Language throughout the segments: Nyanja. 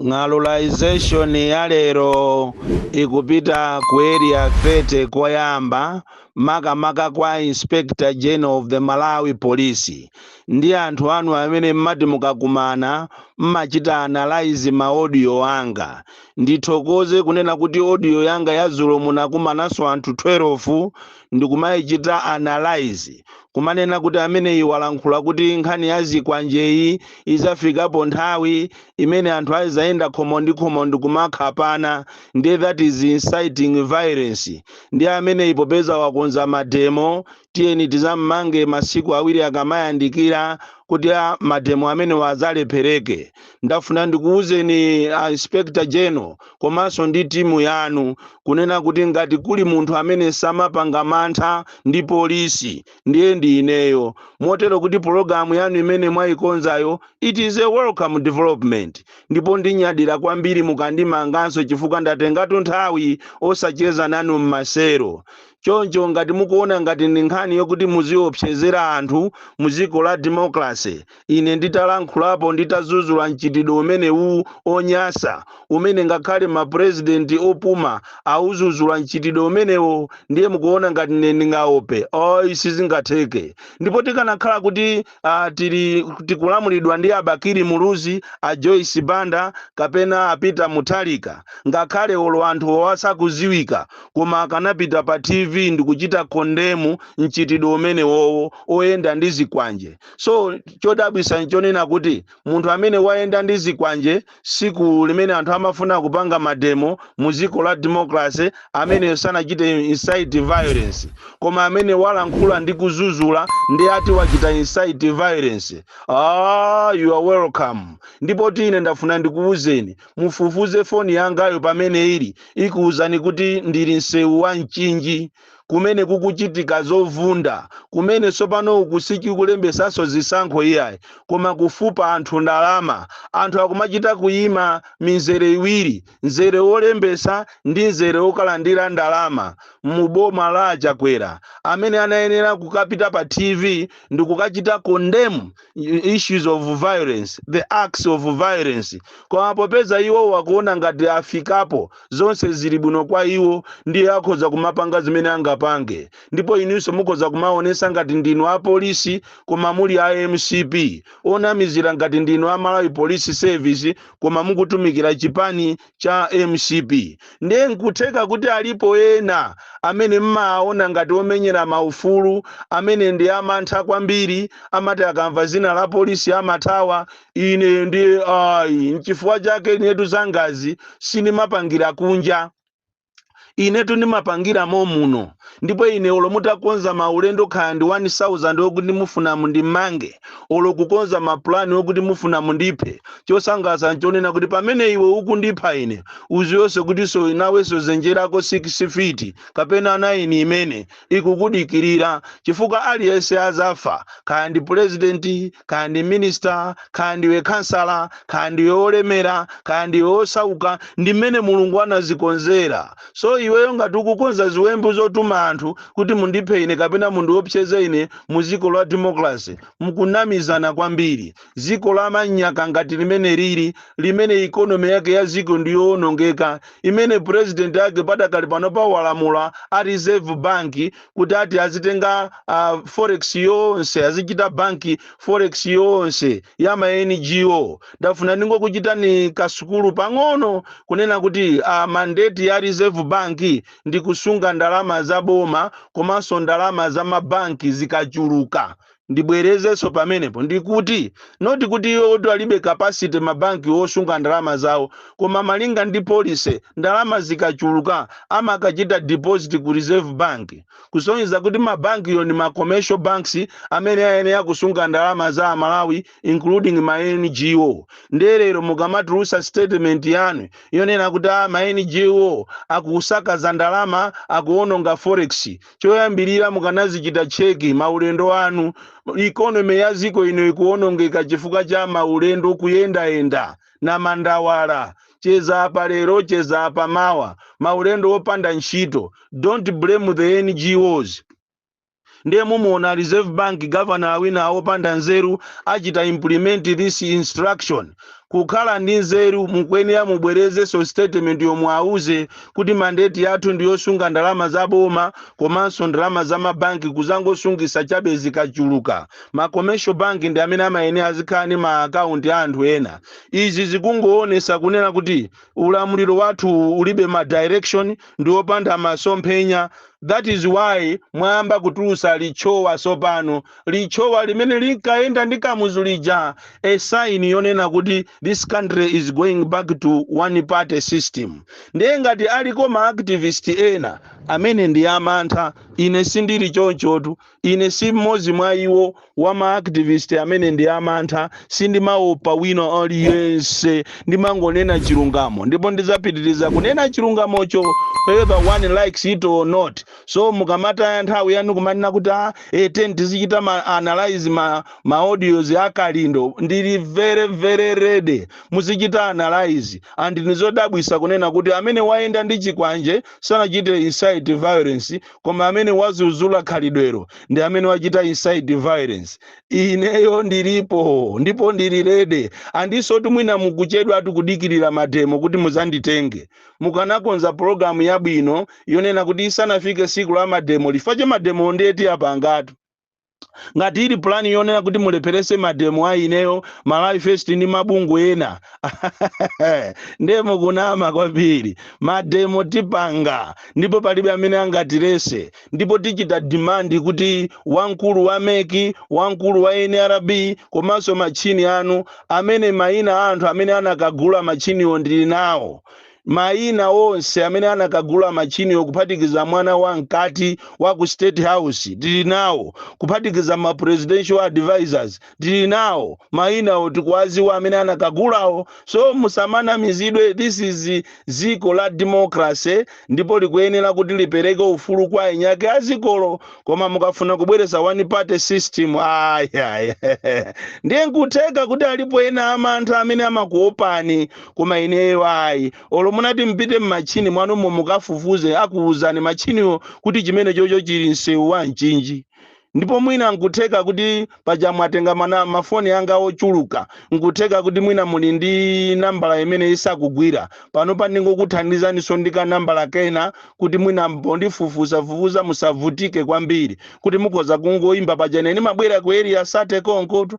ng'alulization ya lero ikupita ku area 30 koyamba makamaka kwa inspector general of the malawi police ndi anthu anu amene mmati mukakumana mmachita analyze ma audio anga ndithokoze kunena kuti audio yanga ya dzulo munakumananso anthu 12 ndikumayichita analyze kumanena kuti ameneyi walankhula kuti nkhani ya zikwanjeyi izafikapo nthawi imene anthu azayenda khomo ndi khomo ndikumakhapana ndiye that is inciting violence ndiye ameneyi popeza wakonza mademo tiyeni tizammange masiku awiri akamayandikira kuti mademo amenewa azalephereke ndafuna ndikuwuzeni a inspector general komanso ndi timu yanu kunena kuti ngati kuli munthu amene samapanga mantha ndi polisi ndiye ndi ineyo motero kuti pologalamu yanu imene mwayikonzayo it is a welcome development ndipo ndinyadira kwambiri mukandimanganso chifukwa ndatengatu nthawi osacheza nanu m'maselo choncho ngati mukuona ngati ndi nkhani yokuti muziopsezera anthu mu dziko la democracy ine nditalankhulapo, nditazuzula mchitidwe umenewu onyasa, umene ngakhale ma president opuma auzuzula mchitidwe umenewo, ndiye mukuona ngati ine ndingaope? Ayi sizingatheke. Ndipo tikanakhala kuti uh, tikulamulidwa ndi a Bakili Muluzi, a Joyce Banda kapena a Peter Mutharika, ngakhale olo anthu osaziwika, koma akanapita pa TV ndikuchita kondemu mchitidwe umenewowo oyenda ndi zikwanje. so chodabwisa nchonena kuti munthu amene wayenda ndi zikwanje siku limene anthu amafuna kupanga mademo mu dziko la democracy ameneyo sanachite incite violence koma amene walankhula ndi kuzuzula ndi ati wachita incite violence ah, you are welcome ndipotu ine ndafuna ndikuwuzeni mufufuze foni yangayo pamene ili ikuwuzani kuti ndili msewu wa mchinji kumene kukuchitika zovunda, kumene tsopano uku sikulembetsanso zisankho iyayi, koma kufupa anthu ndalama. Anthu akumachita kuyima mizere iwiri, mzere wolembetsa ndi mzere wokalandira ndalama mu boma la a Chakwera, amene anayenera kukapita pa TV ndikukachita condemn issues of violence, the acts of violence, koma popeza iwowo akuona ngati afikapo, zonse zili bwino kwa iwo ndiye akhoza kumapanga zimene angapange ndipo inunso mukhoza kumaonesa ngati ndinu apolisi koma muli a mcp onamizira ngati ndinu a malawi police service koma mukutumikira chipani cha mcp ndiye nkutheka kuti alipo ena amene mmaona ngati omenyera maufulu amene ndi amantha kwambiri amati akamva zina la polisi amathawa ine ndi ayi nchifukwa chake inetu zangazi sindimapangira kunja inetu ndimapangira momuno ndipo ine olo mutakonza maulendo khaya ndi 1000 okuti mufuna mundimange olo kukonza mapulani okuti mufuna mundiphe chosangalatsa nchonena kuti pamene iwe ukundipha ine uzionso kuti so nawenso zenjerako 6 fiti kapena naini imene ikukudikirira chifukwa aliyense azafa khaya ndi pulezidenti khaya ndi minister khaya ndiwe khansala khaya ndiwe wolemera khaya ndiwe wosauka ndi mmene mulungu anazikonzera so iweyo ngati ukukonza ziwembu zotuma anthu kuti mundiphe ine kapena mundiopseze ine mu dziko la democracy mukunamizana kwambiri dziko la manyaka ngati limene lili limene ikonomi yake ya dziko ndiyoonongeka imene president yake padakali pano pawalamula a reserve bank kuti ati azitenga uh, forex yonse azichita banki forex yonse ya ma ngo ndafuna ndingokuchitani kasukulu pang'ono kunena kuti uh, mandate ya reserve bank ndi kusunga ndalama za boma komanso ndalama za mabanki zikachuluka ndibwerezenso pamenepo ndikuti not kuti iwo kuti alibe capacity mabanki osunga ndalama zawo koma malinga ndi policy ndalama zikachuluka amakachita deposit ku reserve bank kusonyeza kuti mabankiwo ndi ma commercial banks amene ayenera kusunga ndalama za amalawi including ma ngo ndiye lero mukamatulusa statement yanu yonena kuti a ma ngo akusakaza ndalama akuononga forex choyambirira mukanazichita cheki maulendo anu ikonomi ya ziko ino ikuonongeka chifukwa cha maulendo kuyendayenda namandawala cheza apa lero cheza apa mawa maulendo opanda ntchito don't blame the ngos ndiye mumuona a reserve bank governor winawa opanda nzeru achita implement this instruction kukhala ndi nzeru mukuyenera mubwezenso statement yomwe awuze kuti mandate yathu ndi yosunga ndalama za boma komanso ndalama za mabanki kuzangosungisa chabe zikachuluka ma commercial bank ndi amene amayenera azikhala ndi ma account ya anthu ena izi zikungoonesa kunena kuti ulamuliro wathu ulibe ma direction ndi opanda masomphenya That is why mwayamba kutulusa litchowa sopano. Litchowa limene linkayenda ndi Kamuzu lija, a sign yonena kuti this country is going back to one party system. Ndiye ngati aliko ma activist ena amene ndi amantha, ine sindili chonchotu, Ine si mmodzi mwa iwo, wa ma activist amene ndi amantha. Sindimaopa wina aliyense. Ndimangonena chilungamo ndipo ndidzapitiriza kunena chilungamocho whether one likes it or not. So mukamataya nthawi yanu kumanena kuti ah eh tiyeni tizichita ma analyse ma ma audios a Kalindo, ndili very very ready. Muzichita analyse. And n'zodabwitsa kunena kuti amene wayenda ndi chikwanje sanachite incite violence. koma amene wazuzula khalidwelo ndi amene wachita incite violence ineyo ndilipo ndipo ndili ready andisotu mwina mukuchedwatu kudikirira mademo kuti muzanditenge mukanakonza pologalamu yabwino yonena kuti isanafike siku la mademo chifukwa chake mademo nde tiapangatu ngati ili pulani yonena kuti mulepherese mademo a ineyo malawi first ndi mabungwe ena ndiye mukunama kwambiri mademo tipanga ndipo palibe amene angatirese ndipo tichita demand kuti wamkulu wa mec wamkulu wa nrb komanso matchini anu amene mayina a anthu amene anakagula matchiniwo ndili nawo Mayina onse amene anakagula machiniwo kuphatikiza mwana wa mkati wa ku State House tili nawo, kuphatikiza ma presidential advisors tili nawo, mayinawo tikuwaziwa amene anakagulawo so musamanamizidwe this is dziko la democracy ndipo likuyenera kuti lipereke ufulu kwa eni ake a dzikolo koma mukafuna kubweretsa one party system ayi ayi ndiye nkutheka kuti alipo ena amantha amene amakuopani koma ineyo ayi olo munati mpite m'matchini mwanumo mukafufuze akuwuzani matchiniwo kuti chimenechocho chili msewu wa mchinji ndipo mwina nkutheka kuti paja mwatenga mana mafoni anga ochuluka nkutheka kuti mwina muli ndi nambala imene isakugwira panopa ndingokuthandizaniso ndi kanambala kena kuti mwina pondifufuzafufuza musavutike kwambiri kuti mukhoza kungoyimba paja ine ndimabwera ku area 30 konkotu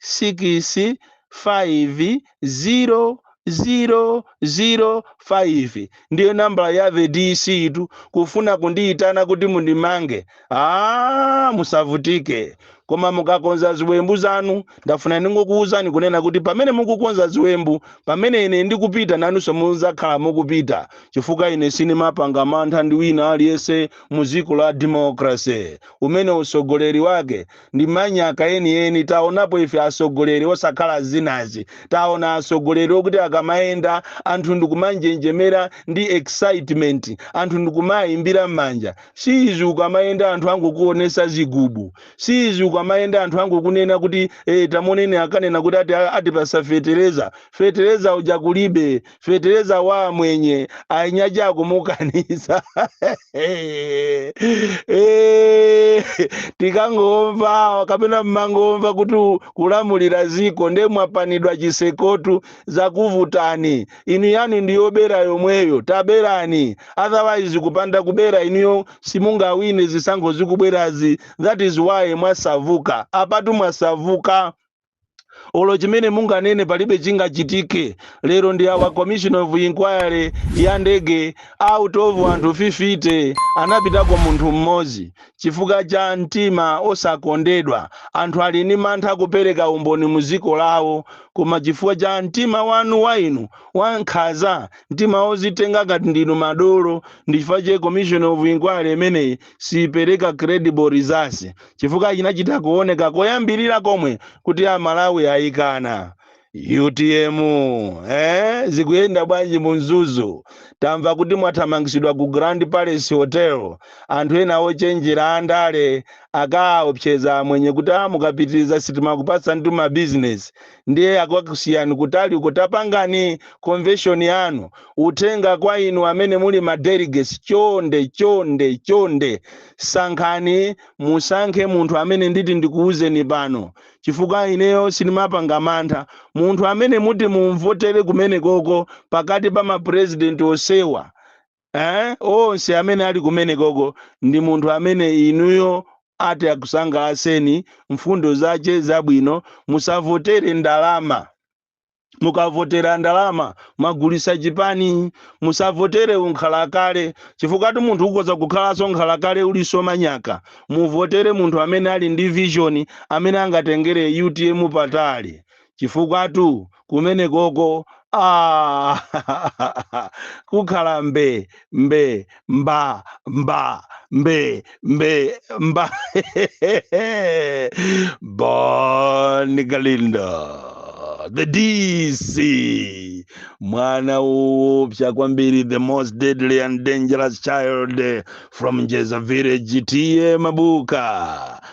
6500005 ndiyo nambala ya the dc tu kufuna kundiyitana kuti mundimange a musavutike koma mukakonza ziwembu zanu ndafuna ndingokuwuzani kunena kuti pamene mukukonza ziwembu pamene ine ndikupita nanunso muzakhala mukupita chifukwa ine sinimapanga mantha ndi wina aliyense mu dziko la democracy umene utsogoleri wake ndi manyaka enieni taonapo ife atsogoleri osakhala zinazi taona atsogoleri okuti akamayenda anthu ndikumanjenjemera ndi excitement anthu ndikumayimbira m'manja siizi ukamayenda anthu angokuonesa zigubu siizi ukamayenda anthu angokunena kuti eh, tamoneni akanena kuti ati atipasa fetereza fetereza uja kulibe fetereza wa amwenye a Inyaja akumukaniza Eh, tikangomva kapena mmangomva kuti u- kulamulira ziko nde mwapanidwa ndi chitsekotu zakuvutani inu yanu ndiyobera yomweyo taberani otherwise kupanda kubera inuyo simungawine zisankho zikubwerazi that is why mwasauka apatu mwasauka olo chimene munganene palibe chingachitike lero ndi awa commission of inquiry ya ndege out of anthu 50 anapitako munthu mmodzi chifukwa cha mtima osakondedwa anthu ali ndi mantha kupereka umboni mu dziko lawo koma chifukwa cha mtima wanu wa inu wankhaza mtima wozitenga ngati ndinu madolo ndi chifukwa chake commission of inquiry imeneyi siipereka credible results chifukwa chinachita kuoneka koyambirira komwe kuti amalawi ayikana utm eh? zikuyenda bwanji mu Mzuzu tamva kuti mwathamangitsidwa ku grand palace hotel anthu ena ochenjera andale akawaopseza amwenye kuti mukapitiriza sitimakupatsani mabizinesi ndiye akakusiyani kutali uko tapangani convention yanu uthenga kwa inu amene muli ma delegates chonde chonde chonde sankhani musankhe munthu amene nditi ndikuwuzeni pano chifukwa ineyo sindimapanga mantha munthu amene muti mumvotere kumeneko ko pakati pa ma president onsewa eh? onse amene ali kumenekoko ndi munthu amene inuyo ati akusangalaseni mfundo zace zabwino musavotere ndalama mukavotera ndalama mwagulisa chipani musavotere unkhalakale chifukwatu munthu ukoza kukhalanso nkhalakale ulinso manyaka muvotere munthu amene ali ndi vision amene angatengere utm patali chifukwatu kumenekoko ah, kukhala mbe mbe mba mba mbe mbe mba bon kalindo the dc mwana woopsa kwambiri the most deadly and dangerous child from njeza village tiye mabuka